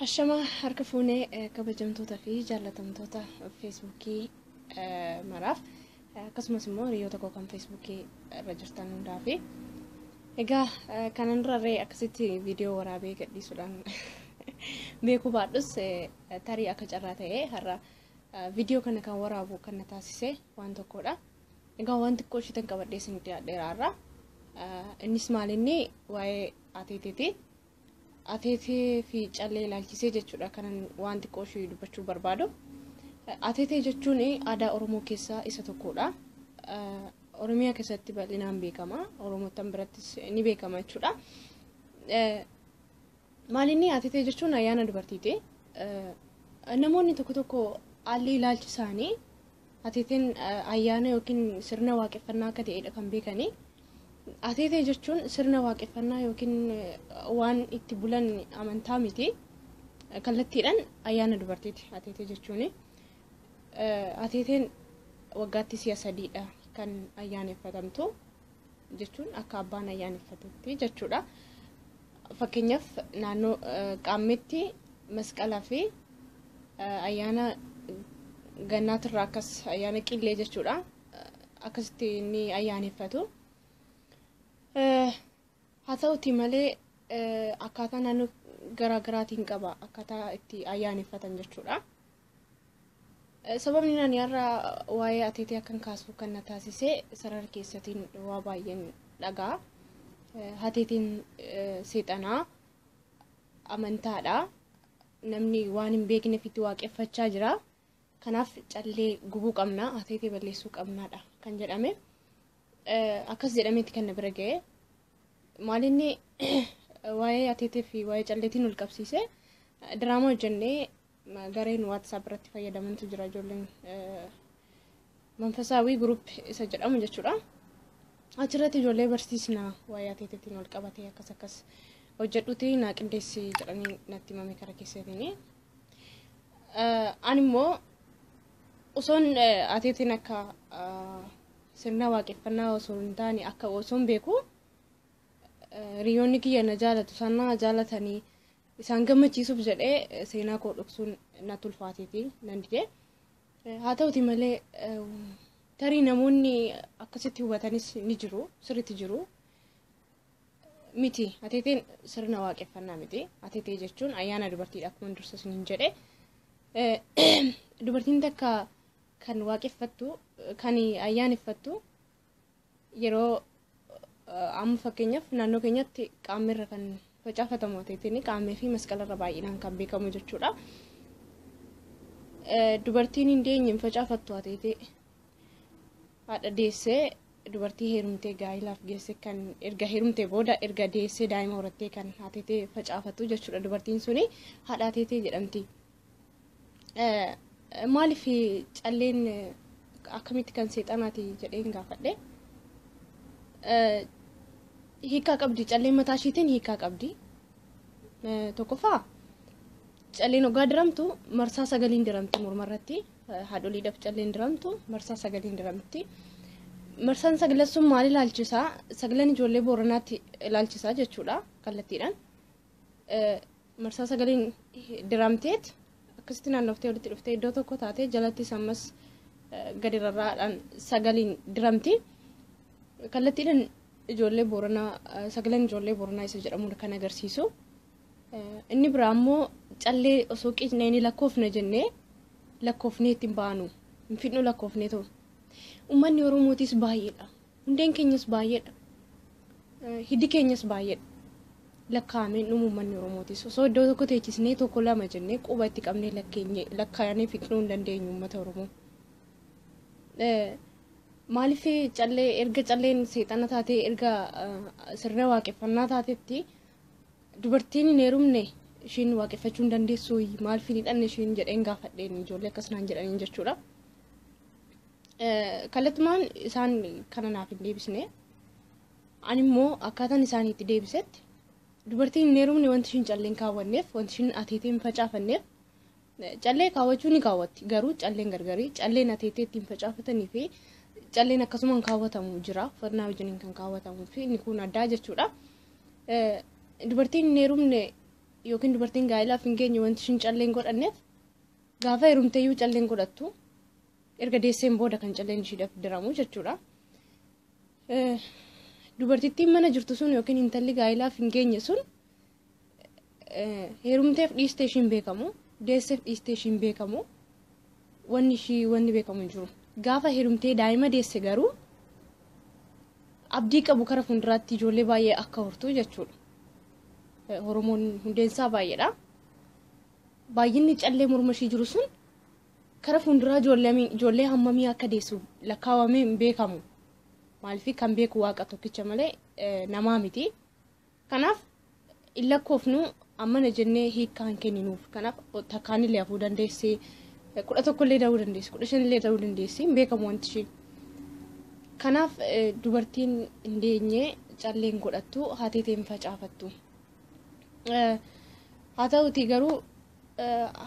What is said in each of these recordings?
Hashama harka fuunee eh, kabajamtoota fi jaallatamtoota feesbuukii eh, maraaf eh, akkasumas immoo hiriyoota koo kan feesbuukii irra jirtan hundaa fi egaa eh, kanan durarree akkasitti viidiyoo waraabee gadhiisuudhaan beekuu baadhus eh, tarii akka carraa ta'ee har'a eh, viidiyoo kana kan waraabu kan na taasise waan tokkodha. Egaa waan xiqqoo ishiitan qabadhee isin dhiyaadheera har'a. Eh, Innis maalinni waa'ee ateeteti. Ateetee fi callee ilaalchisee jechuudha kanan waan xiqqoo ishee dubbachuu barbaadu. Ateetee jechuun aadaa Oromoo keessaa isa tokkodha. Oromiyaa keessatti bal'inaan beekama. Oromootan birattis ni beekama jechuudha. Maalinni ateetee jechuun ayyaana dubartiiti. Namoonni tokko tokko haalli ilaalchi isaanii Ateeteen ayyaana yookiin sirna waaqeffannaa akka ta'edha kan beekani. Ateetee jechuun sirna waaqeffannaa yookiin waan itti bulan amantaa miti. Kallattiidhaan ayyaana dubartiiti ateetee jechuuni. Ateeteen waggaatti si'a sadiidha kan ayyaaneffatamtu. jechuun akka abbaan ayyaaneffatetti jechuudha. Fakkeenyaaf naannoo qaammeetti masqalaa fi ayyaana gannaatirraa akkas ayyaana qillee jechuudha. Akkasitti ni ayyaaneffatu. Haa ta'uti malee akkaataa naannoo garaagaraatiin qaba akkaataa itti ayyaaneffatan jechuudha. Sababni ani har'a waa'ee ateetee akkan kaasu kan na taasise sarara keessatiin waa baay'een dhaga'a. Ateeteen seexanaa amantaadha. Namni waan hin beekneef itti waaqeffachaa jira. Kanaaf callee gubuu qabna, ateetee balleessuu qabnaadha kan jedhame. Akkas jedhameeti kan na bira ga'e. Maalinni waa'ee ateetee fi waa'ee calleetiin wal qabsiise diraamaa hojjennee gareen WhatsApp irratti fayyadamantu jira ijoolleen manfasaawii group isa jedhamu jechuudha. Achirratti ijoollee barsiisna waa'ee ateeteetiin wal qabatee akkas akkas hojjedhuti naa qindeessi jedhanii natti himame kara keessatini. Ani immoo osoon ateeteen akka sirna waaqeffannaa osoo hin taane akka osoon beeku hiriyoonni kiyya na jaalatu isaan na jaalatanii Isaan gammachiisuuf jedhee seenaa koo dhoksuun natti ulfaateeti nan dide. Haa ta'uti malee tarii namoonni akkasitti hubatanis ni jiru sirriitti jiru. Miti ateeteen sirna waaqeffannaa miti. Ateetee jechuun ayyaana dubartiidha akkuma dursa isiniin jedhe. Dubartiin takka kan waaqeffattu kan ayyaaneffattu Yeroo amma fakkeenyaaf naannoo keenyatti qaammee irra kan facaafatamu ateetiin qaammee fi masqala irra baay'inaan kan beekamu jechuudha. Dubartiin hin deenye hin facaafattu ateetee haadha deessee dubartii heerumtee gaa'ilaaf geesse kan erga heerumtee booda erga deessee daa'ima horattee kan ateetee facaafatu jechuudha dubartiin suni haadha ateetee jedhamti. Maaliif calleen akkamitti kan seexanaati jedheen gaafadhe. Hiikaa qabdi calleen mataa ishiitiin hiikaa qabdi. Tokkoffaa calleen oggaa diramtu marsaa sagaliin diramti morma irratti haadholiidhaaf calleen diramtu marsaa sagaliin diramti. Marsaan saglan sun maal ilaalchisaa? Saglan ijoollee booranaatti ilaalchisaa jechuudha kallattiidhaan. marsaa sagaliin diramteet akkasitti naannoftee walitti dhuftee iddoo tokko taatee jalattis ammas gadi rarraadhaan sagaliin diramti. Kallattiidhaan ijoollee booranaa sagaleen ijoollee booranaa isa jedhamudha kan agarsiisu. Inni biraa immoo callee osoo qiicnee ni lakkoofna jennee lakkoofnee ittiin baanu hin fidnu lakkoofnee ta'u. Uummanni Oromootis baay'eedha. Hundeen keenyas baay'eedha. Hiddi keenyas baay'eedha. Lakkaa'amee dhumuu uummanni Oromootis. Osoo iddoo tokko teechisnee tokko lama jennee quba itti qabnee lakkeenye lakkaa'anii fixnuu hin dandeenyu uummata Oromoo. Maaliif callee erga calleen seexana taatee erga sirna waaqeffannaa taatetti dubartiin hin heerumne ishiin waaqeffachuu hin dandeessu maaliif hin hidhanne ishiin jedheen gaafadheen ijoollee akkas naan jedhaniin jechuudha. Kallattumaan isaan kana naaf hin deebisne. Ani immoo akkaataan isaan itti deebisetti dubartiin hin heerumne wanti ishiin callee hin kaawwanneef wanti ishiin ateetee hin facaafanneef callee kaawwachuu ni kaawwatti garuu calleen gargarii calleen ateetee ittiin facaafatanii fi calleen akkasuma hin kaawwatamu jira uffannaa wajjiniin kan kaawwatamu fi inni kun addaa jechuudha. Dubartiin hin heerumne yookiin dubartiin gaa'elaaf hin geenye wanti ishiin calleen godhanneef gaafa heerumteeyyuu calleen godhattu Erga deesseen booda kan calleen ishiidhaaf diramu jechuudha. Dubartittiin mana jirtu sun yookiin intalli gaa'ilaaf hin geenye sun heerumteef dhiistee ishiin beekamu deesseef dhiistee ishiin beekamu wanni ishii wanni beekamu hin jiru. Gaafa heerumtee daa'ima deesse garuu abdii qabu kara fuulduraatti ijoollee baay'ee akka hortu jechuudha. Oromoon hundeensaa baay'eedha. Baay'inni callee morma ishii jiru sun Kara fuunduraa ijoollee hammamii akka deessu lakkaawamee hin beekamu. Maaliif kan beeku waaqa tokkicha malee namaa miti. Kanaaf hin lakkoofnu ammana jennee hiikkaa hin kenninuuf. Kanaaf takkaanillee hafuu dandeessi. Kudha tokkollee ta'uu dandeessi. Kudha shanillee ta'uu dandeessi. Hin beekamu wanti ishii. Kanaaf dubartiin hin deenye calleen godhattu haateeteen facaafattu. Haa ta'uutii garuu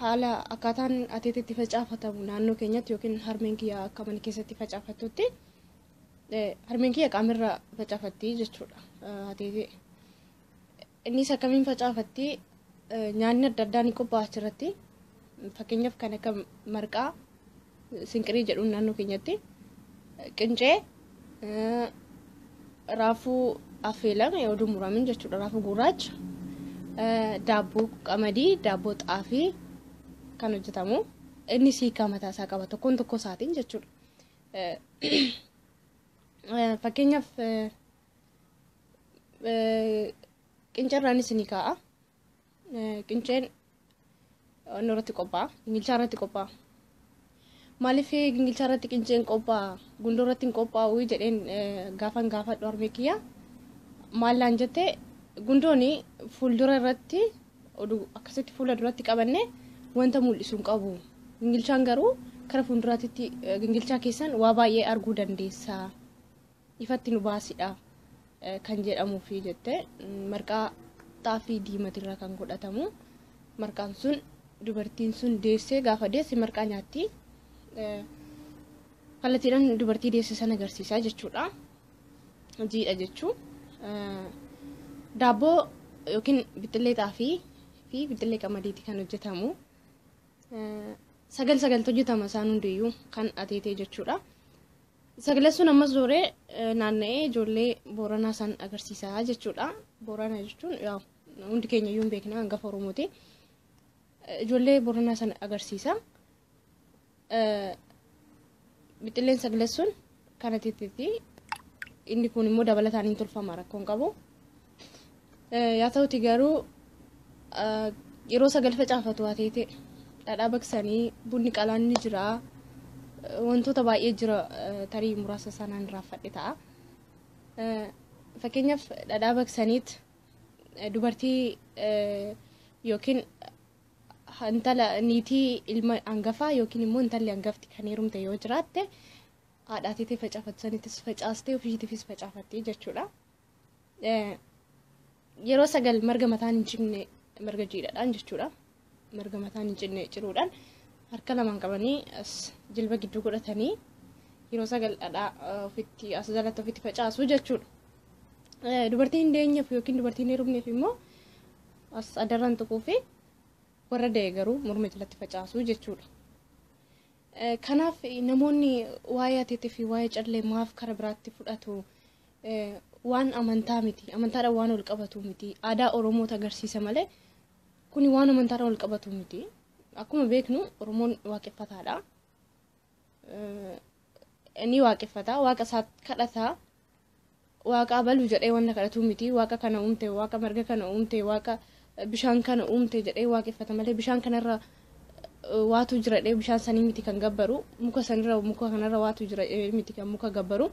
haala akkaataan ateetti itti facaafatamu naannoo keenyatti yookiin harmeen kiyya akka mana keessatti facaafattutti harmeen kiyya qaamirra facaafatti jechuudha ateetee. Innis akkamiin facaafatti nyaanni adda addaa ni qophaa'a achirratti fakkeenyaaf kan akka marqaa Sinqirii jedhuun naannoo keenyatti qincee raafuu affeelame oduu muramin jechuudha raafuu gurraacha daabboo qamadii daabboo xaafii kan hojjetamu inni siikaa mataa isaa qaba tokkoon tokko isaatiin jechuudha. Fakkeenyaaf qincarraan isinii kaa'a Qinceen onnoo irratti qophaa'a. Gingilchaa irratti qophaa'a. Maaliif gingilchaa irratti qinceen qophaa'a? Gundoo irratti hin qophaa'u jedheen gaafan gaafadhu harmee kiyya. Maal naan jette gundoon fuuldura irratti oduu akkasitti fuula duratti qabanne wanta mul'isu hin qabu. Gingilchaan garuu kara fuulduraatti gingilchaa keessan waa baay'ee arguu dandeessa. ifatti nu baasidha kan jedhamuufi jette marqaa xaafii diimatirraa kan godhatamu marqaan sun dubartiin sun deessee gaafa deesse marqaa nyaatti kallattiidhaan dubartii deesse sana agarsiisa jechuudha jiidha jechuu daabboo yookiin bixxillee xaafii fi bixxillee qamadiiti kan hojjetamu sagal sagaltu hojjetama isaan hundiyyuu kan ateetee jechuudha. Sagalee sun ammas zooree naanna'ee ijoollee Booranaa san agarsiisaa jechuudha. Boorana jechuun yaa hundi keenya iyyuu hin beekna hangafa Oromooti. Ijoollee Booranaa san agarsiisa. Bixxilleen sagalee sun kana titiiti. Inni kun immoo dabalataan hin tolfama rakkoon qabu. Yaa ta'uti garuu yeroo sagal facaafatu haa teete dhadhaa baqsanii bunni qalaan ni jira wantoota baay'ee jira tarii muraasa sanaan irraanfadhe ta'a. Fakkeenyaaf dhadhaa baqsaniit dubartii yookiin intala niitii ilma hangafaa yookiin immoo intalli hangafti kan heerumte yoo jiraatte haadhaa teetee facaafattu sanittis facaastee ofiitiifis facaafattee jechuudha. yeroo sagal marga mataan hin cinne marga jiidhaadhaan jechuudha marga mataan hin cinne ciruudhaan harka lamaan qabanii as jilba gidduu godhatanii yeroo sagal dhadhaa ofitti as jalatti ofitti facaasu jechuudha. Dubartii hin deenyeef yookiin dubartii hin heerumneef immoo as adarraan tuquu fi warra da'e garuu morma jalatti facaasu jechuudha. Kanaaf namoonni waa'ee ateetii fi waa'ee callee maaf karaa biraatti fudhatu waan amantaa miti amantaadhaan waan wal qabatu miti aadaa oromoota agarsiisa malee kuni waan amantaadhaan wal qabatu miti akkuma beeknu oromoon waaqeffataadha ni waaqeffata waaqa isaa kadhata waaqa abaluu jedhee wanta kadhatu miti waaqa kana uumte waaqa marga kana uumte waaqa bishaan kana uumte jedhee waaqeffata malee bishaan kanarra waatu jira jedhee bishaan sanii miti kan gabbaru muka sanirra muka kanarra waatu jira jedhee miti kan muka gabbaru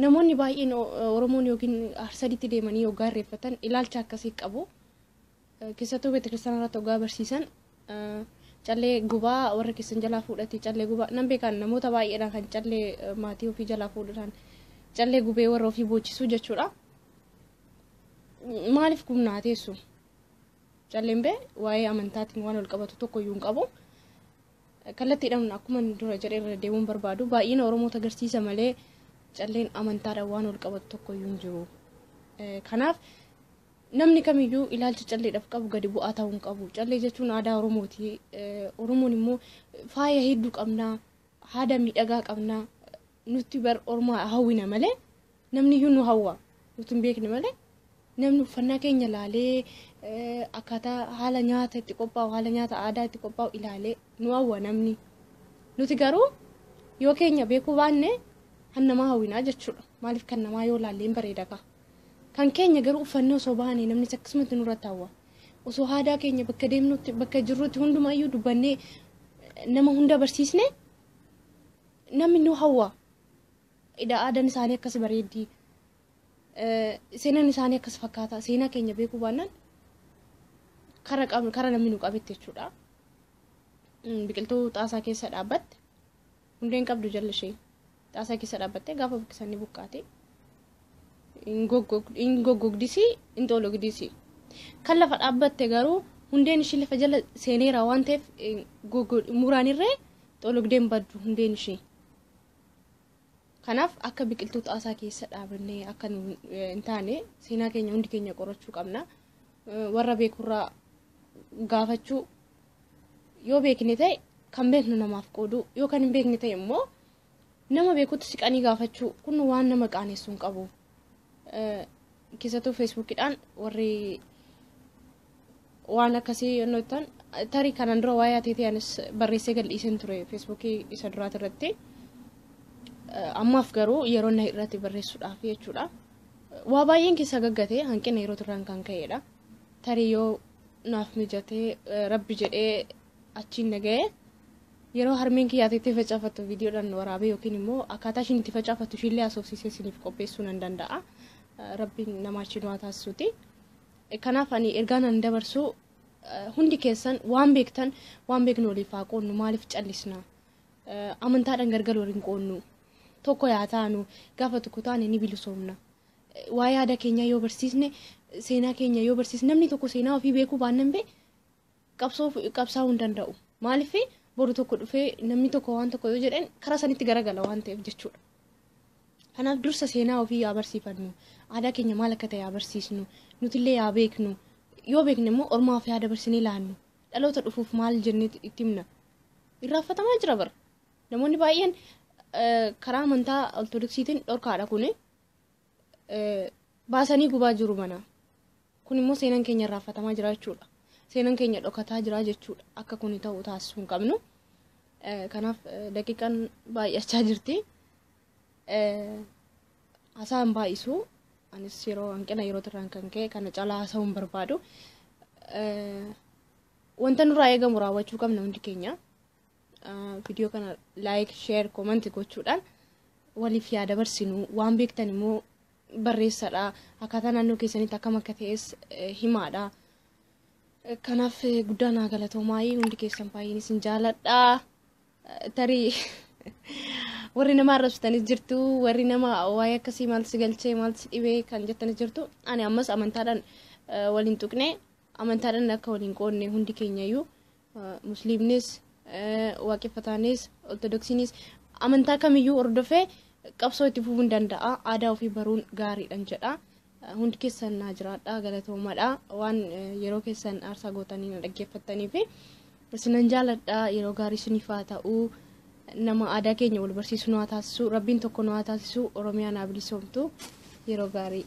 Namoonni baay'een Oromoon yookiin Arsaditti deemanii hoggaa irreeffatan ilaalcha akkasii qabu. Keessattuu beetakiristana irratti hoggaa barsiisan callee gubaa warra keessan jalaa fuudhatii callee gubaa nan beekan namoota baay'eedhaan kan callee maatii ofii jalaa fuudhuudhaan callee gubee warra ofii boochisuu jechuudha. Maaliif gubnaa teessu? Calleen bee waa'ee amantaatiin waan ol qabatu tokko iyyuu hin qabu. Kallattiidhaan akkuma dura jedhe irra deemuun barbaadu baay'ina Oromoota agarsiisa malee calleen amantaadhaan waan wal qabatu tokko iyyuu hin jiru. Kanaaf namni kamiyyuu ilaalcha calleedhaaf qabu gadi bu'aa ta'uu hin qabu. Callee jechuun aadaa Oromooti. Oromoon immoo faaya hedduu qabna, haada miidhagaa qabna. Nutti bar Oromoo hawwina malee Namniyyuu nu hawwa. Nuti hin beekne malee namni uffannaa keenya ilaalee akkaataa haala nyaata itti qophaa'u haala nyaata aadaa itti qophaa'u ilaalee nu hawwa namni. Nuti garuu yoo keenya beekuu baanne kan namaa hawwinaa jechuudha. Maaliif kan namaa yoo ilaalle hin bareeda kaa. Kan keenya garuu uffannee osoo baane namnis akkasumatti nurratti hawwa. Osoo aadaa keenya bakka deemnutti bakka jirrutti hundumayyuu dubbannee nama hunda barsiisne namni nu hawwa. Ida aadaan isaanii akkas bareeddi. Seenaan isaanii akkas fakkaata. Seenaa keenya beekuu baannaan kara qab- kara namni nu qabetti jechuudha. Mm, Biqiltuu xaasaa keessa dhaabbatte hundeen qabdu jala ishee xaasaa keessa dhaabbattee gaafa buqqisan ni buqqaati. Hin goggog- hin goggogdisi hin xoologdisi. Kan lafa dhaabbatte garuu hundeen ishii lafa jala seeneera waan ta'eef eh, goggo- muraanirree xoologdeen baddu hundeen ishii. Kanaaf akka biqiltuu xaasaa keessa dhaabannee akka nu hin taane seenaa keenya hundi keenya qorachuu qabna. Warra beekurraa gaafachuu yoo beekne ta'e kan beeknu namaaf qooduu yoo kan hin beekne ta'e immoo nama beekutti siqanii gaafachuu kun waan nama qaanessu hin qabu. Keessattuu feesbuukidhaan warri waan akkasii yennoo ittaan tarii kanaan dura waa'ee ateetee anis barreessee gadhiiseen ture feesbuukii isa duraati irratti ammaaf garuu yeroo na irratti barreessuudhaaf jechuudha waa baay'een keessa gaggate hanqina yeroo turraan kan ka'edha tarii yoo naaf mijatee rabbi jedhee achiin na ga'e yeroo harmeen kiyya ateetee facaafattu viidiyoodhaan waraabee yookiin immoo akkaataa ishiin itti facaafattu ishiillee haasofsiisee isiniif qopheessuu nan danda'a rabbiin nama achiin waa taasisuuti. Kanaaf ani ergaan ani dabarsu hundi keessan waan beektan waan beeknu waliif haa qoodnu maaliif callisna amantaadhaan gargar waliin qoodnu tokko yaa taanu gaafa tokko taane ni bilisoomna waa'ee aadaa keenyaa yoo barsiisne seenaa keenya yoo barsiisne namni tokko seenaa ofii beekuu baannan bee qabsoof qabsaa'uu hin danda'u. Maaliif boru tokko dhufee namni tokko waan tokko yoo jedhan karaa sanitti garagala waan ta'eef jechuudha. Kanaaf dursa seenaa ofii yaa barsiifannu, aadaa keenya maal akka ta'e yaa barsiisnu, nutillee yaa beeknu, yoo beekne immoo ormaaf yaa dabarsinee laannu, dhaloota dhufuuf maal jennee itti himna. Irraanfatamaa jira bara. Namoonni baay'een karaa amantaa ortodoksiitiin dhorkaadha kuni. baasanii gubaa jiru mana. Kun immoo seenan keenya irraanfatamaa jira jechuudha. Seenan keenya dhokataa jira jechuudha. Akka kun ta'u taasisuu hin qabnu. Kanaaf daqiiqaan baay'achaa jirti. Hasaa hin baay'isu. Anis yeroo hanqina yerootirraan kan ka'e kana caalaa haasa'uu hin barbaadu. Wanta nurraa eegamu raawwachuu qabna hundi keenya. Viidiyoo kana like, share, comment gochuudhaan waliif yaa dabarsinu waan beektan immoo barreessadha akkaataa naannoo keessanitti akkam akka ta'es eh, himaadha. Eh, Kanaaf eh, guddaa naa galatoomaayii hundi keessan baay'een isin jaaladha. Eh, Tarii warri nama arrabsitanis jirtu warri nama waa'ee akkasii maal si galchee maal si dhibee kan jettanis jirtu ani ammas amantaadhaan eh, waliin tuqne amantaadhaan akka waliin qoodne hundi keenyayyuu musliimnis waaqeffataanis ortodoksiinis amantaa kamiyyuu hordofee qabsoo itti fufuun danda'a aadaa ofii baruun gaariidhan jedha hundi keessan naa jiraadha galatoomadha waan yeroo keessan aarsaa gootanii na dhaggeeffattanii fi isinan jaaladha yeroo gaarii siniif haa ta'u nama aadaa keenya wal barsiisu nu haa taasisu rabbiin tokko nu haa taasisu oromiyaa naa bilisoomtu yeroo gaarii.